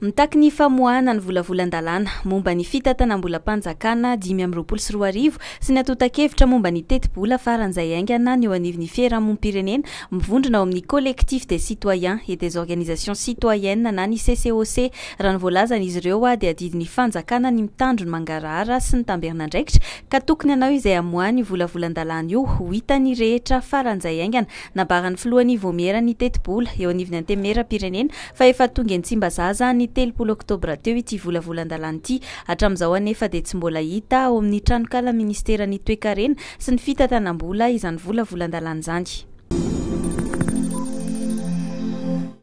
Mitaky ny famoahana ny volavolan-dalàna momba ny fitantanam-bolam-panjakana dimy amby roapolo sy roa arivo sy ny antontan-kevitra momba ny tetibola faran'izay haingana ny eo anivon'ny fiherahamom-pirenena mivondrona ao amin'ny Collectif des citoyens et des organisations citoyennes na ny CCOC raha ny voalazan'izy ireo dia adidin'ny fanjakana ny mitandro ny mangarahara sy ny tamberin'andraikitra ka tokony hanao izay hamoahany io volavolan-dalàna io ho hitan'ny rehetra faran'izay haingana Nambaran'ny filohan'ny Vaomiera ny tetibola eo anivon'ny Antenimierampirenena fa efa tonga eny Tsimbazaza ny telopolo oktobra teo ity volavolan-dalàna ity. Hatramin'izao anefa dia tsy mbola hita ao amin'ny tranokalan'ny minisiteran'ny Toekarena sy ny fitantanam-bola izany volavolan-dalàna izany.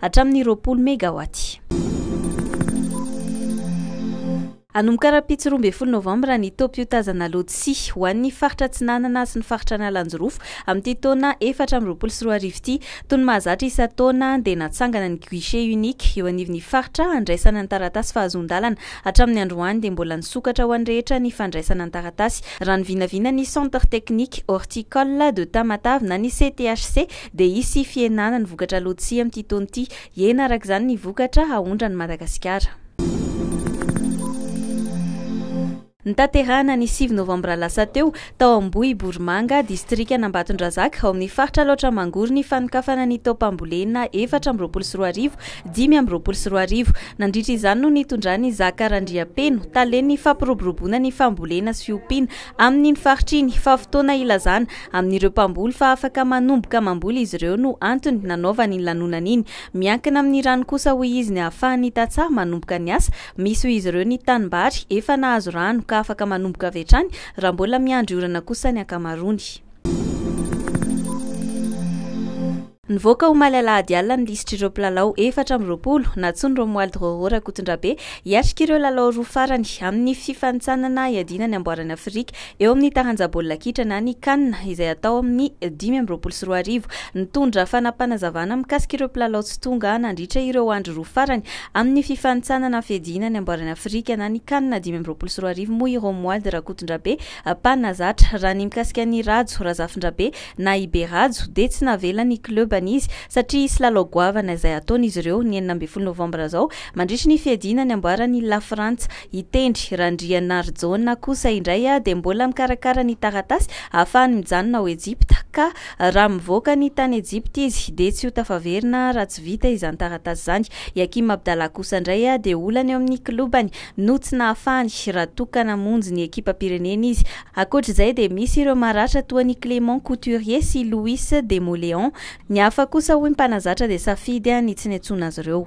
hatramin'ny roapolo megawaty. Hanomboka rahampitso roa ambin'ny folo novambra ny taom-piotazana lodisia ho an'ny faritra Atsinanana sy ny faritra Analanjirofo amin'ity taona efatra amby roapolo sy roa arivo ity. Toy ny mahazatra isan-taona dia natsangana ny guichet unique eo anivon'ny faritra handraisana ny taratasy fahazoan-dalana. Hatramin'ny androany dia mbola nisokatra ho an'ny rehetra ny fandraisana ny taratasy raha ny vinavina ny Centre Technique Horticole de Tamatave na ny CTHC dia hisy fihenana ny vokatra lotsia amin'ity taona ity. Hihena araka izany ny vokatra haondran' i Madagasikara. Notanterahina ny sivy novambra lasa teo, tao Ambohiborimanga, distrikan'Ambatondrazaka, ao amin'ny faritra Alaotra Mangoro ny fanokafana ny taom-pambolena efatra amby roapolo sy roa arivo, dimy amby roapolo sy roa arivo. Nandritra izany no nitondran'i Zaka Randriampeno, talen'ny fampiroboroboana ny fambolena sy fiompiana, Amin'iny faritra iny, fa fotoana hilazana amin'ireo mpamboly fa afaka manomboka mamboly izy ireo no antony nanaovany iny lanonana iny. Miankina amin'ny rano kosa hoy izy ny ahafahan'ny tantsaha manomboka ny asa. Misy ho izy ireo ny tanimbary efa nahazo rano ka afaka manomboka avy hatrany raha mbola miandry orana kosa ny ankamaroany. Nivoaka omaly alahady alina ny lisitr'ireo mpilalao efatra amby roapolo nantsoin'i Romuald Rôrô Rakotondrabe hiatrika ireo lalao roa farany amin'ny fifanintsanana iadiana ny amboaran'i Afrika eo amin'ny taranja baolina kitra na ny Can izay hatao amin'ny dimy amby roapolo sy roa arivo. Nitondra fanapanazavana mikasika ireo mpilalao tsy tonga nandritra ireo andro roa farany amin'ny fifanintsanana fiadiana ny amboaran'i Afrika na ny Can dimy amby roapolo sy roa arivo moa i Romuald Rakotondrabe Pana zatra. Raha ny mikasika an'i Rhajo Razafindrabe na i Be Rhajo dia tsy navela ny klebany izy satria hisy lalao goavana izay hataony izy ireo ny enina ambin'ny folo novambra izao mandritry ny fiadiana ny amboaran' i Lafrantsa. I Tendry Randrianarijaona kosa indray dia mbola mikarakara ny taratasy ahafahany mijanona ao Ejipta ka raha mivoaka ny tany Ejipta izy dia tsy ho tafaverina raha tsy vita izany taratasy izany. I Hakim Abdallah kosa indray dia olana eo amin'ny klebany no tsy nahafahany raha toa ka namonjy ny ekipam-pirenena izy. Ankoatra izay dia misy ireo maratra toa an'i Clément Couturier sy Louis Demoléon. Ny hafa kosa hoy ny mpanazatra dia safidy ny tsy niantsoana azy ireo.